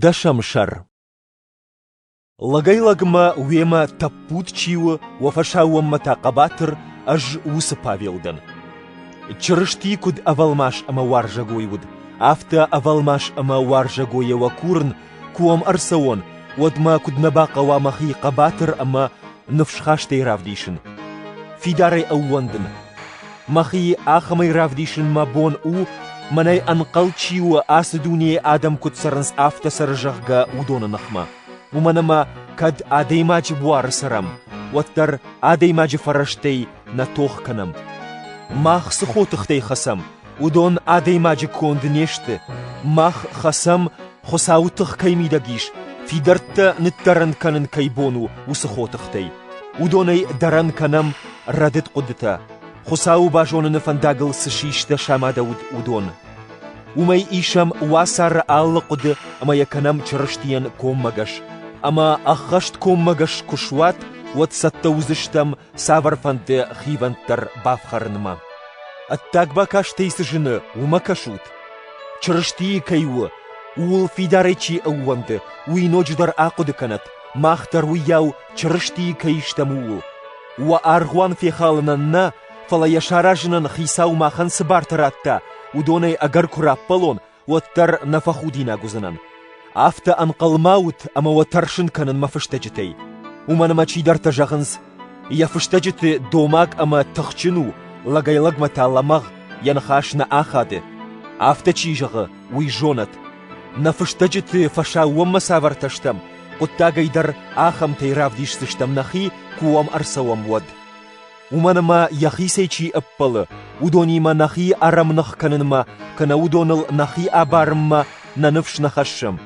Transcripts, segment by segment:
Дӕсӕм сӕр Лӕгӕй-лӕгмӕ уемӕ тӕппуд чи у, уӕ фӕсаууонмӕ та хъӕбатыр, ӕз уыцы Павел дӕн. Чырысти куыд ӕвӕлмас ӕмӕ уарзӕгой уыд, афтӕ ӕвӕлмас ӕмӕ уарзӕгойӕ уӕ курын, куы уӕм ӕрцӕуон, уӕд мӕ куыд нӕ бахъӕуа мӕхи хъӕбатыр ӕмӕ ныфсхастӕй равдисын, фидарӕй ӕууӕндын. Мӕхи ахӕмӕй равдисын мӕ бон у, мӕнӕй ӕнхъӕл чи у, ацы дунейы адӕм куыд цӕрынц, афтӕ цӕры, зӕгъгӕ, уыдоны ныхмӕ. Уымӕн ӕмӕ, кӕд адӕймаджы буары цӕрӕм, уӕддӕр адӕймаджы фӕрӕзтӕй нӕ тох кӕнӕм. Мах цы хотыхтӕй хӕцӕм, Уыдон адӕймаджы конд не сты, мах хӕцӕм, Хуыцауы тых кӕй мидӕг ис, фидӕрттӕ ныддӕрӕн кӕнын кӕй бон у, уыцы хотыхтӕй. Уыдонӕй дӕрӕн кӕнӕм рӕдыд хъуыдытӕ, Хуыцауы базоныны фӕндагыл цы систӕ самадӕуыд, уыдон. Уымӕй исӕм уацары алы хъуыды ӕмӕ йӕ кӕнӕм Чырыстийӕн коммӕгӕс. Ӕмӕ ӕххӕст коммӕгӕс куы суат, уӕд цӕттӕ уыдзыстӕм цавӕрфӕнды хивӕнд дӕр бафхӕрынмӕ. Ӕддаг бакастӕй цы зыны, уымӕ кӕсут. Чырыстийы кӕй у, ууыл фидарӕй чи ӕууӕнды, уый ноджыдӕр ахъуыды кӕнӕт, мах дӕр уыйау Чырыстийы кӕй стӕм, ууыл. Уӕ аргъуан фехалынӕн нӕ, фӕлӕ йӕ саразынӕн Хицау махӕн цы барты радта, уыдонӕй ӕгӕр куы раппӕлон, уӕддӕр нӕ фӕхудинаг уыдзынӕн. Афтӕ ӕнхъӕлмӕ ут ӕмӕ уӕ тӕрсын кӕнын мӕ фыстӕджытӕй. Уымӕн ӕмӕ чидӕртӕ зӕгъынц, йӕ фыстӕджыты домаг ӕмӕ тыхджын у, лӕгӕй-лӕгмӕ та лӕмӕгъ, йӕ ныхас нӕ ахады. Афтӕ чи зӕгъы, уый зонӕт. Нӕ фыстӕджыты фӕсаууонмӕ цавӕртӕ стӕм, хъуыддагӕй дӕр ахӕмтӕй равдисдзыстӕм нӕхи, куы уӕм ӕрцӕуӕм, уӕд. уымӕн ӕмӕ йӕхицӕй чи ӕппӕлы, уыдонимӕ нӕхи ӕрӕмных кӕнынмӕ кӕнӕ уыдоныл нӕхи абарынмӕ нӕ ныфс нӕ хӕссӕм.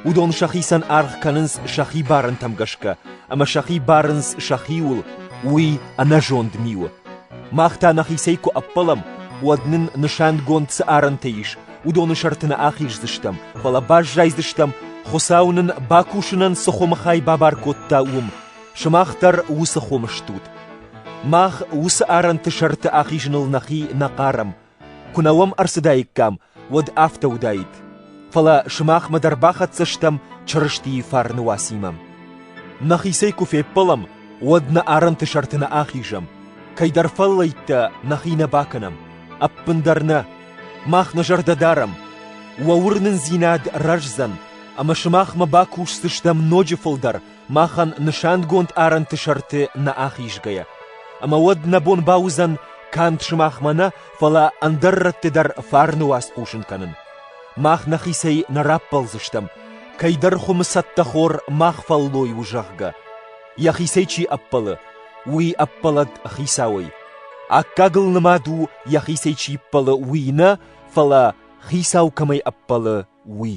Уыдон сӕхицӕн аргъ кӕнынц сӕхи барӕнтӕм гӕсгӕ, ӕмӕ сӕхи барынц сӕхиуыл, уый ӕнӕзонд ми у. Мах та нӕхицӕй куы ӕппӕлӕм, уӕд нын нысангонд цы арӕнтӕ ис, уыдоны сӕрты нӕ ахиздзыстӕм, фӕлӕ баззайдзыстӕм, Хуыцау нын бакусынӕн цы хуымы хай бабар кодта, уым. Сымах дӕр уыцы хом стут. Мах уыцы арӕнты сӕрты ахизыныл нӕхи нӕ хъарӕм. Куы нӕ уӕм ӕрцыдаиккам, уӕд афтӕ уыдаид. Фӕлӕ сымахмӕ дӕр бахӕццӕ стӕм Чырыстийы фарны уацимӕ. Нӕхицӕй куы феппӕлӕм, уӕд нӕ арӕнты сӕрты нӕ ахизӕм. Кӕйдӕр фӕллӕйттӕ нӕхи нӕ бакӕнӕм, ӕппындӕр нӕ. Мах нӕ зӕрдӕ дарӕм. Уӕ уырнындзинад рӕздзӕн, ӕмӕ сымахмӕ бакусдзыстӕм ноджы фылдӕр, махӕн нысангонд арӕнты сӕрты нӕ ахизгӕйӕ. Ӕмӕ уӕд нӕ бон бауыдзӕн канд сымахмӕ нӕ, фӕлӕ ӕндӕр рӕтты дӕр фарны уац хъусын кӕнын. Мах нӕхицӕй нӕ раппӕлдзыстӕм, кӕйдӕр хуымы цӕттӕхор мах фӕллой у, зӕгъгӕ. Йӕхицӕй чи ӕппӕлы, уый ӕппӕлӕд Хицауӕй. Аккагыл нымад у, йӕхицӕй чи ӕппӕлы, уый нӕ, фӕлӕ Хицау кӕмӕй ӕппӕлы, уый.